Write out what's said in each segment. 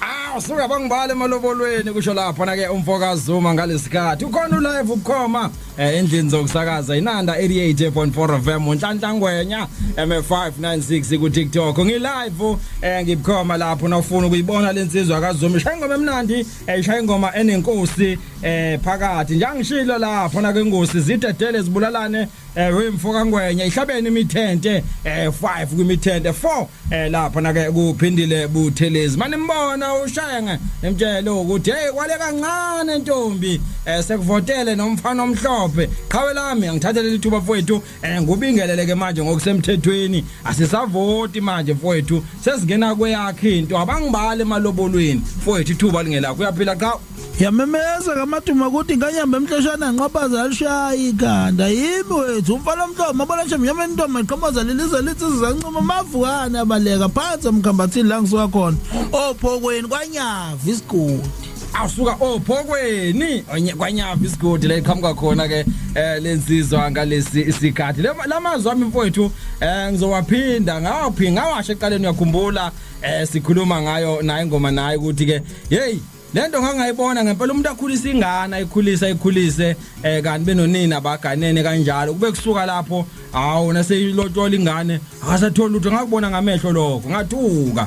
Ah usuka bangibale emalobolweni kusho lapho na ke umfoka Zuma ngalesikhathi ukhona ulive ukhoma eh, endlini zokusakaza inanda 88.4 FM unhlanhla ngwenya M596 ku TikTok ngi live eh, ngibukhoma lapho nawufuna ukuyibona lensizwa kaZuma ishaya ingoma emnandi eh, ishaya ingoma enenkosi eh, phakathi njangishilo lapho na ke ngosi zidedele zibulalane eh, wemfoka ngwenya ihlabene imithente eh, 5 kwimithente 4 eh lapha na ke kuphindile buthelezi manje mbona ushenge emtshele ukuthi hey kwale kancane ntombi eh sekuvotele nomfana omhlophe qhawe lami angithathele lithuba mfowethu eh ngubingeleleke manje ngokusemthethweni asisavoti manje mfowethu sesingena kweyakhe into abangibale emalobolweni mfowethu ithuba lingelakho uyaphila qhawe yamemeza kamaduma ukuthi nganyamba emhloshana nqabaza alishayi ikhanda yimi wethu umfana omhlophe mabona nje mnyama intombi eqhomoza lilize lithi sizancuma mavukane abaleka phansi emkhambathini la ngisuka khona ophokweni kwanyava isigodi awusuka ophokweni onye- kwanyava isigodi la iqhamuka khona ke eh lensizwa ngalesi isikhathi Le- lamazwi ami mfowethu eh ngizowaphinda ngawaphi ngawasho eqaleni uyakhumbula eh sikhuluma ngayo naye ngoma naye ukuthi ke hey lento ngangayibona ngempela umuntu akhulisa ingane ayikhulisa ayikhulise eh kanti benonini abaganene kanjalo kube kusuka lapho hawo naseyilotola ingane akasathola lutho ngakubona ngamehlo lokho ngathuka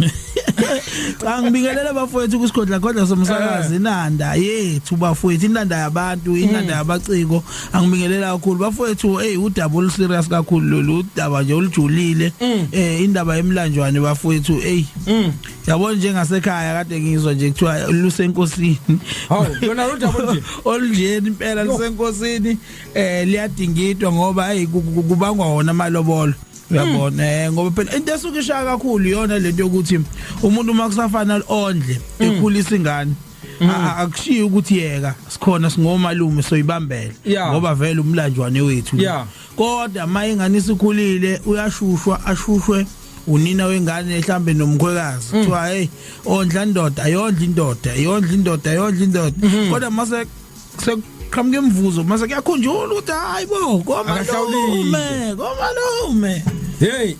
cha ngibingelele bafowethu kusigodla godla somsakazi eh. inanda yethu bafowethu inanda yabantu inanda hmm. yabaciko angibingelela kakhulu bafowethu hey udaba olu serious kakhulu lolu udaba nje olujulile hmm. eh indaba yemlanjwane bafowethu hey hmm. yabo njengasekhaya kade ngizwa nje kuthiwa lusenkosini hawu yona lodaba nje olunjeni impela lusenkosini eh liyadingidwa ngoba hayi kubangwa wona amalobolo uyabona hmm. eh ngoba phela into esuke ishaya kakhulu iyona lento yokuthi umuntu uma kusafana ondle hmm. ekhulisa ingane Mm. akushiyi ukuthi yeka sikhona singomalume soyibambela ngoba vele umlanjwane wethu yeah. kodwa uma ingane isikhulile uyashushwa ashushwe unina wengane mhlambe nomkhwekazi mm. kuthiwa hey ondla indoda ayondla indoda ayondla indoda ayondla indoda mm-hmm. kodwa mase sekuqhamuka imivuzo mase kuyakhunjula ukuthi hayi bo komalume komalume Hey.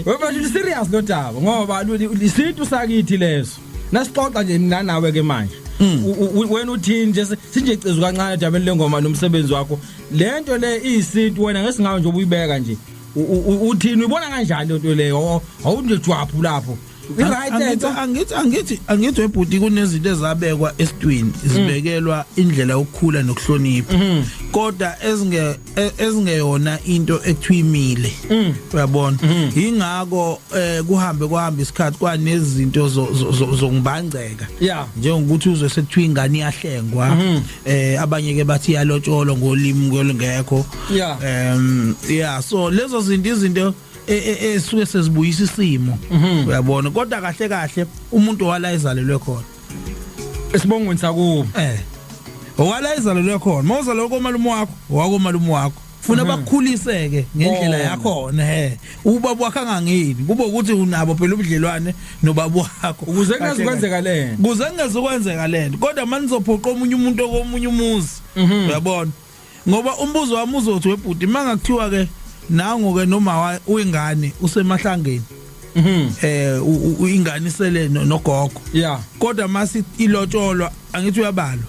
Webantu serious lo daba ngoba isintu sakithi leso. nasixoxa nje mina nawe ke manje mm. wena uthini nje sinje cizu kancane dabeni lengoma nomsebenzi wakho lento le iyisintu wena ngesingawe nje ubuyibeka nje uthini uyibona kanjani lento leyo awunje jwaphu lapho angithi angithi angithi angithi webhuti kunezinto ezabekwa esitwini zibekelwa indlela yokukhula nokuhlonipha mm-hmm. kodwa ezinge e, ezingeyona into ethwimile mm. uyabona mm. ingakho eh, kuhambe kuhamba isikhathi kwanezinto zongibangceka njengokuthi uzwe sekuthiwa ingane iyahlengwa mm-hmm. eh abanye ke bathi yalotsholwa ngolimi ngolungekho em yeah so lezo zinto izinto E, e, esuke sezibuyisa isimo mhm. uyabona kodwa kahle kahle umuntu wala ezalelwe khona esibongweni sakubo eh owala izalelwe khona mawuzalelwe komalume wakho wakomalume wakho funa mhm. bakukhuliseke ngendlela yakho ne ubaba wakhe angangeni kube ukuthi unabo phela ubudlelwane nobaba wakho ukuze kungaze kwenzeka lento kuze kungaze kwenzeka lento kodwa manizophoqa omunye umuntu okomunye umuzi mhm. uyabona ngoba umbuzo wami uzothi webhuti manga kuthiwa ke nango ke noma uyingane usemahlangeni mhm eh uyingane isele nogogo yeah kodwa masi ilotsholwa angithi uyabalwa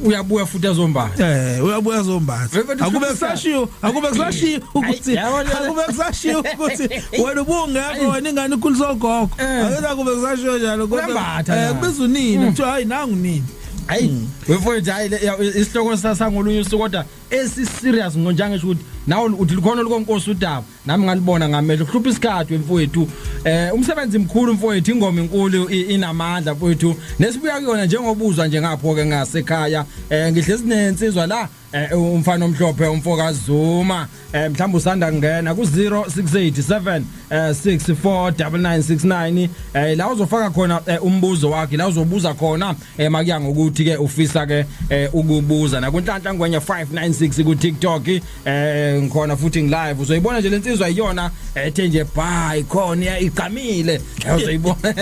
uyabuya futhi azombala eh uyabuya azombala akube kusashiyo akube kusashiyo ukuthi akube kusashiyo ukuthi wena ubungekho wena ingane ikhulisogogo eh. akube kusashiyo njalo kodwa eh kubiza unini mm. kuthiwa hayi nangu nini hayi hmm. wefowethu hayi isihloko sasangolunye usuku kodwa esiserious ngonja ngisho ukuthi nawe uthi likhona olukonkosi udaba nami ngalibona ngamehlo kuhlupha isikhathi wemfowethu eh umsebenzi mkhulu mfowethu ingoma inkulu inamandla mfowethu nesibuya kuyona njengobuzwa nje ngapho ke ngasekhaya eh ngihlezi nensizwa la eh umfana omhlophe umfoka Zuma eh mhlawumbe usanda kungena ku 0687 eh 649969 eh la uzofaka khona eh, umbuzo wakhe la uzobuza khona eh makuya ngokuthi ke ufisa ke eh, ukubuza na kunhlanhla ngwenye 596 ku TikTok eh ngikhona futhi ngiLive uzoyibona nje lensizwa iyona ethe eh, nje bye khona igqamile eh, uzoyibona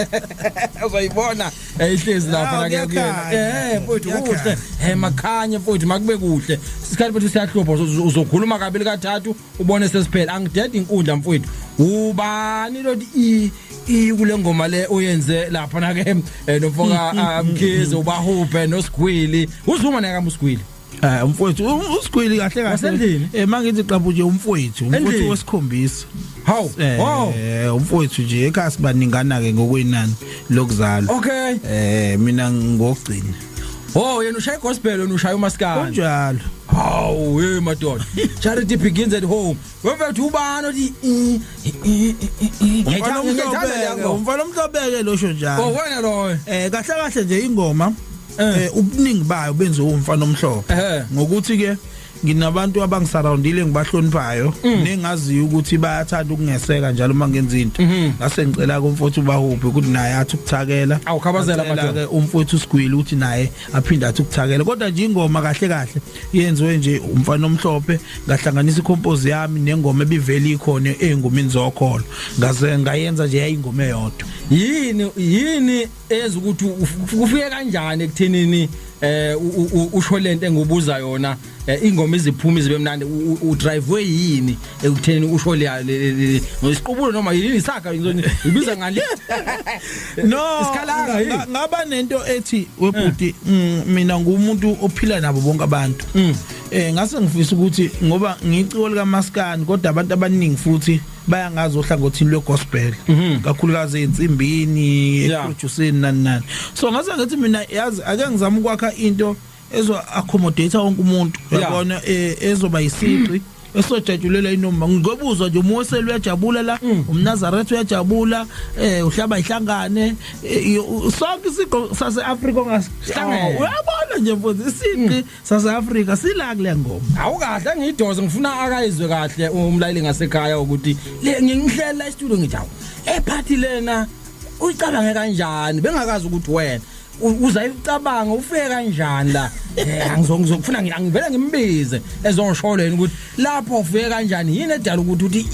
uzoyibona eyihlezi lapha la kuyena eh mfowethu kuhle eh makhanye mfowethu makube kuhle isikhathi bethu siyahlupha uzokhuluma kabili kathathu ubone sesiphela angidedi inkundla mfowethu ubani lodi i i kule ngoma le oyenze lapha na ke nomfoka mkhize ubahuphe nosigwili uzuma naka musgwili Eh umfowethu u- usigwili kahle kahle. Wasendlini? Eh mangithi qabu nje umfowethu, umfowethu Endlini? wesikhombisa. Hawu. Eh Wow. umfowethu nje ekhaya sibaningana ke ngokwenani lokuzala. Okay. Eh mina ngokugcina. Oh, yena ushaya gospel wena ushaya umaskani. Kunjalo. Hawu, hey madoda. Charity begins at home. Wemfethu ubani othi eh, eh, eh, eh, eh. Umfana Ngiyayithanda- ngiyayithanda le omhlobeke, ngoma. umfana omhlobeke losho Oh, njalo. wena loyo. Eh kahle kahle nje ingoma eh ubuningi bayo benze umfana omhlophe ngokuthi ke nginabantu abangisurroundile ngibahloniphayo mm. nengaziyo ukuthi bayathanda ukungeseka njalo uma ngenza into mm-hmm. ngase ngicela kumfowethu ubahuphi ukuthi naye athi ukuthakela awukhabazela amadoda umfowethu usigwili ukuthi naye aphinde athi ukuthakela kodwa nje ingoma kahle kahle yenziwe nje umfana omhlophe ngahlanganisa ikompose yami nengoma ebivele ikhona engomini zokholo ngaze ngayenza nje yayingoma eyodwa yini yini eza ukuthi kufike kanjani ekuthenini eh usho lento engibuza yona eh, ingoma iziphuma izibe mnandi u drive yini ekuthenini usho le ngisiqubulo noma yini isaga ibiza ngani no isikhalanga ngaba nento ethi webhuti eh. mm, mina ngumuntu ophila nabo bonke abantu mm. eh ngase ngifisa ukuthi ngoba ngiciko lika maskani kodwa abantu abaningi futhi bayangazi ohlangothini lwegospel mhm. kakhulukazi ensimbini eproduceni nani nani so ngase ngathi mina yazi ake ngizama ukwakha into ezo accommodate wonke umuntu yabona e, ezoba yisiqi esojajulela inoma ngikobuzwa nje uMose uyajabula la mm. umNazaretha uyajabula eh uhlaba ihlangane e, sonke isiqo saseAfrika ongasihlangene oh. uyabona nje mfundisi isiqi mm. South Africa sila kule ngoma awukahle ngiyidoze ngifuna akayizwe kahle umlaleli ngasekhaya ukuthi le ngingihlela istudio ngithi awu ephathi lena uyicabange kanjani bengakazi ukuthi wena uzayicabanga ufike kanjani la eh, angizongizokufuna ngivele ngimbize ezongisholeni ukuthi lapho ufike kanjani yini edala ukuthi uthi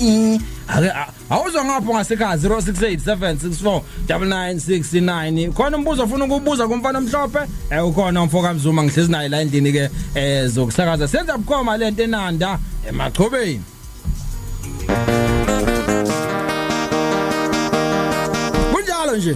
ake Awuzwa ngapho ngasekhaya 0687649969 khona umbuzo ofuna ukubuza kumfana omhlophe eh ukhona umfo kaMzuma ngihlezi naye la endini ke eh zokusakaza senza bukhoma lento enanda emachobeni Kunjalo nje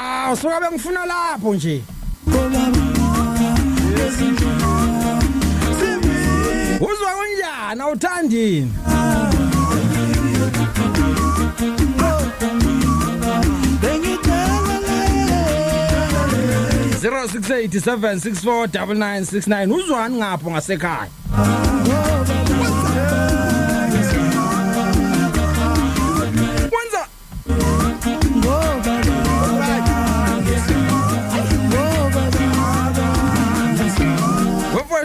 Aw suka bengifuna lapho nje. Uzwa kunjani awuthandini? Zero six eight seven six four double nine six nine uzwani ngapho ngasekhaya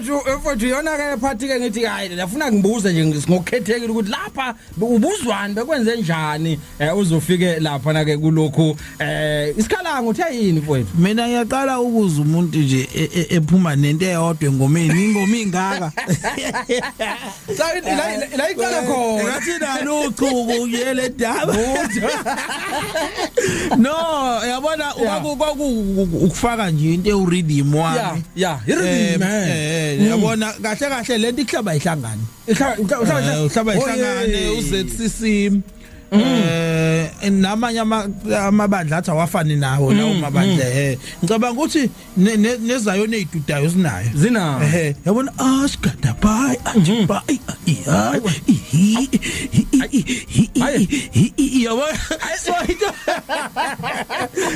mfowethu mfowethu yona ke phathi ke ngithi hayi ndafuna ngibuze nje ngokukhethekile ukuthi lapha ubuzwani bekwenze njani eh, uzofike lapha na ke kulokhu eh isikhalango uthe yini mfowethu mina ngiyaqala ukuza umuntu nje e, e, ephuma nento eyodwa engomeni ingoma ingaka La la la iqala khona. Ngathi nalo uchuku uyele daba. No, yabona kwaku ukufaka nje into eurhythm wami. Yeah, yeah, irhythm. Eh, eh, eh, yabona mm. kahle kahle lento ihlaba ihlangane. Ihlaba ihlaba ihlangane uZCC. Mm. Eh namanye amabandla athi awafani nawo lawo mm, mabandla eh ngicabanga ukuthi nezayona ezidudayo zinayo zinayo ehe yabona asigada bye athi bye hayi yabona ayiswayito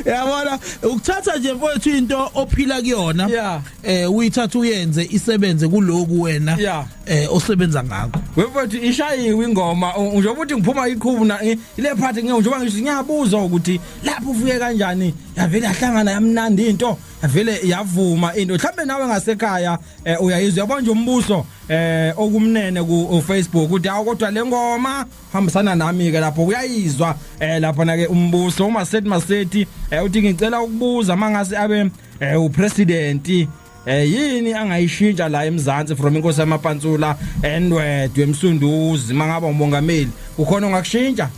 yabona ukuthatha nje mfowethu into ophila kuyona eh uyithatha uyenze isebenze kuloku wena eh osebenza ngakho wemfowethu ishayiwe ingoma njengoba uthi ngiphuma iqhubu na ile part ngiyoba ngisho ngiyabuza ukuthi lapho ufuye kanjani yavele yahlangana yamnandi into yavele yavuma into mhlambe nawe ngasekhaya eh, uyayizwa yabona nje umbuso eh okumnene ku Facebook uthi awu kodwa lengoma hambisana nami ke lapho uyayizwa eh lapha na ke umbuso uma sethi masethi eh, uthi ngicela ukubuza mangase abe eh, upresident Eh yini angayishintsha la eMzansi from inkosi yamapantsula endwedwe emsunduzi mangaba umongameli ukhona ongakushintsha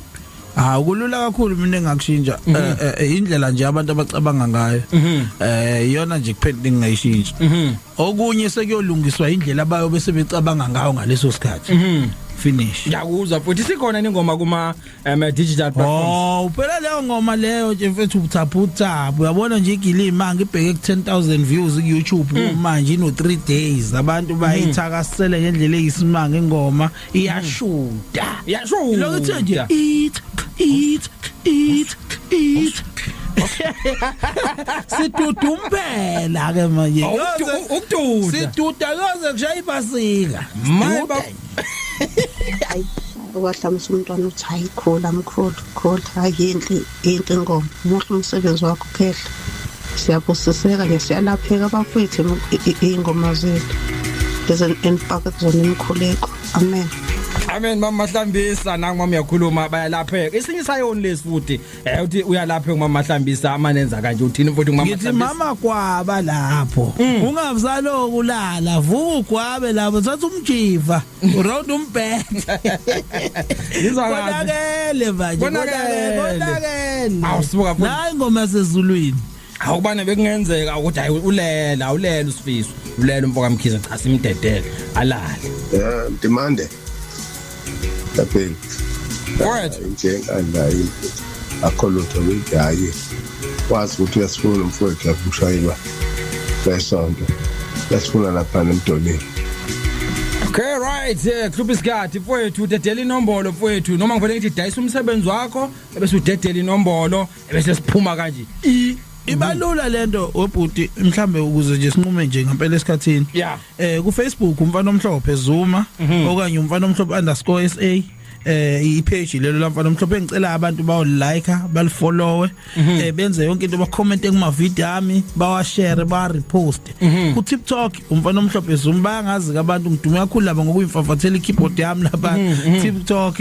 Ah kulula kakhulu mina engakushintsha mhm. eh, eh, eh, indlela nje abantu abacabanga ngayo mhm. eh iyona nje kuphela engingayishintsha mhm. okunye sekuyolungiswa indlela abayo bese becabanga ngayo ngaleso sikhathi finish ngiyakuzwa futhi sikhona ningoma kuma um eh, digital platforms oh uphela leyo ngoma leyo nje mfethu ubuthaputha uyabona nje igilima ngibheke ku 10000 views ku YouTube mm. manje ino 3 days abantu mm. bayithakasele ngendlela eyisimanga ingoma iyashuda mm. iyashuda lokho kuthe nje it it it it sidudumpela ke manje ukududa siduda yoze kushaya ibasika hayi ukwahlamisa umntwana uthi hayi khula mkhulu khula hayi yinhle yinhle ingoma muhle umsebenzi wakho khehla siyabusiseka nje siyalapheka abafwethu iy'ngoma zethu ezenifaka kuzona imikhuleko amen amen mama hlambisa nangu mama uyakhuluma bayalapheka isinye isayoni lesi futhi Eh uthi uyalapha ngumama hlambisa amanenza kanje uthini mfowethu ngumama hlambisa. Ngithi mama kwaba lapho. Mm. Ungavzalo kulala vuka ugwabe lapho thatha umjiva uround umbheke. Ngizwa kahle. Konakele manje. Konakele. Awusuka futhi. Hayi ngoma sezulwini. awubane bekungenzeka ukuthi hayi ulele awulele usifiso ulele umfoka mkhize cha simdedele alale yeah demande lapel kwethu injenga nayi akho lutho ligaye wazi ukuthi uyasifuna umfowethu lapho ushayelwa lesonto yasifuna lapha nemdoleni Okay right yeah club isikhathi mfowethu dedela inombolo mfowethu noma ngivele ngithi dayisa umsebenzi wakho ebese udedela inombolo ebese siphuma kanje i ibalula lento webhuti mhlambe ukuze nje sinqume nje ngempela esikhathini yeah. eh ku Facebook umfana omhlophe Zuma mm -hmm. okanye umfana omhlophe underscore SA eh ipage lelo lamfana omhlophe engicela abantu bawo like balifollowe mhm. eh benze yonke into bacomment kuma video ami bawa share ba repost mhm. ku TikTok umfana omhlophe zumba ngazi abantu ngidume kakhulu laba ngokuyimfafathela ikeyboard yami lapha mhm, TikTok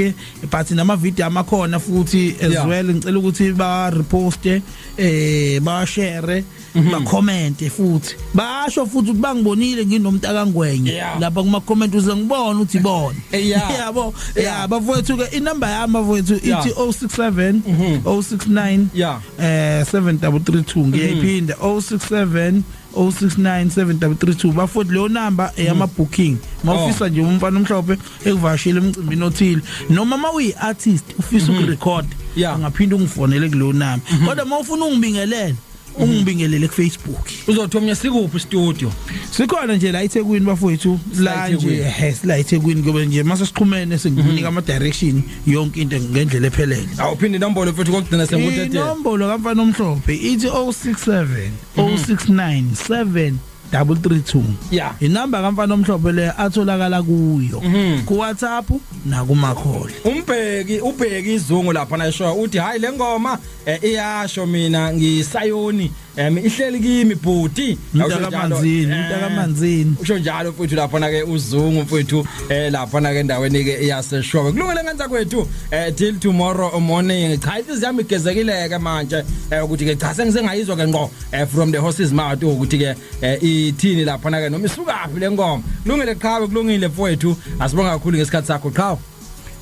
but nama video amakhona futhi as yeah. well ngicela ukuthi ba reposte eh ba share mm -hmm. ba comment futhi basho futhi ukuthi bangibonile nginomuntu akangwenye yeah. lapha kuma comment uze ngibone uthi bona eh, yeah. yabo yeah. yeah, bafowethu ke inumber yami bafowethu ithi yeah. 067 mm -hmm. 069 yeah. eh 7332 ngiyayiphinda mm -hmm. 067 069732 bafowethu leyo number eyama mm. booking mawufisa oh. nje umfana omhlophe ekuvashela emcimbini othile noma uma uyi artist ufisa mm-hmm. ukurecord angaphinda ungifonele kuleyo number mm-hmm. kodwa mawufuna ungibingelele mm-hmm. ungibingelele kufacebook uzothi omnye sikuphi studio sikhona nje la eThekwini bafowethu la nje yes la eThekwini ngoba nje mase siqhumene sengikunika ama direction yonke into ngendlela ephelele awuphinde inombolo mfethu kokugcina sengutethe inombolo kamfana omhlophe ithi 067 0697 332 Yeah. inamba kamfana omhlophe le atholakala kuyo Mhm. ku WhatsApp nakumakholi umbheki ubheki izungu lapha nayisho uthi hayi lengoma eh, iyasho mina ngisayoni em ihleli kimi bhuti Mntakamanzini, mntakamanzini. usho njalo mfowethu lapha na ke uzungu mfowethu eh lapha na ke endaweni ke yaseshowe kulungele ngenza kwethu eh till tomorrow morning cha inhliziyo yami igezekile ke manje eh ukuthi ke cha sengisengayizwa ke ngqo eh from the horses mouth ukuthi ke eh, ithini lapha na ke noma isukaphi le ngoma kulungile qhawe kulungile mfowethu asibonga kakhulu ngesikhathi sakho qhawe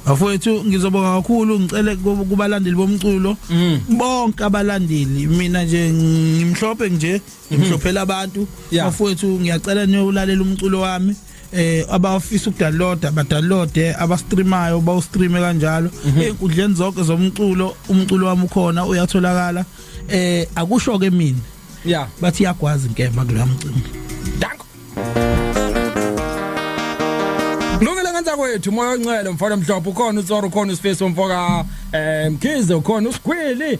Bafowethu ngizobonga kakhulu ngicele kubalandeli bomculo mm. bonke abalandeli mina nje ngimhlophe nje ngimhlophela abantu Yeah. bafowethu ngiyacela niyolalela umculo wami eh abafisa ukudownloada badownloade abastreamayo bawustreame kanjalo enkundleni zonke zomculo umculo wami ukhona uyatholakala eh akusho ke mina Yeah. bathi iyagwaza inkemba kuloya mcimbi Danko. Lungile ngenza kwethu moya oncele mfana mhlophe ukhona uTsoro ukhona uSpace umfoka eh Mkhize ukhona uSgwili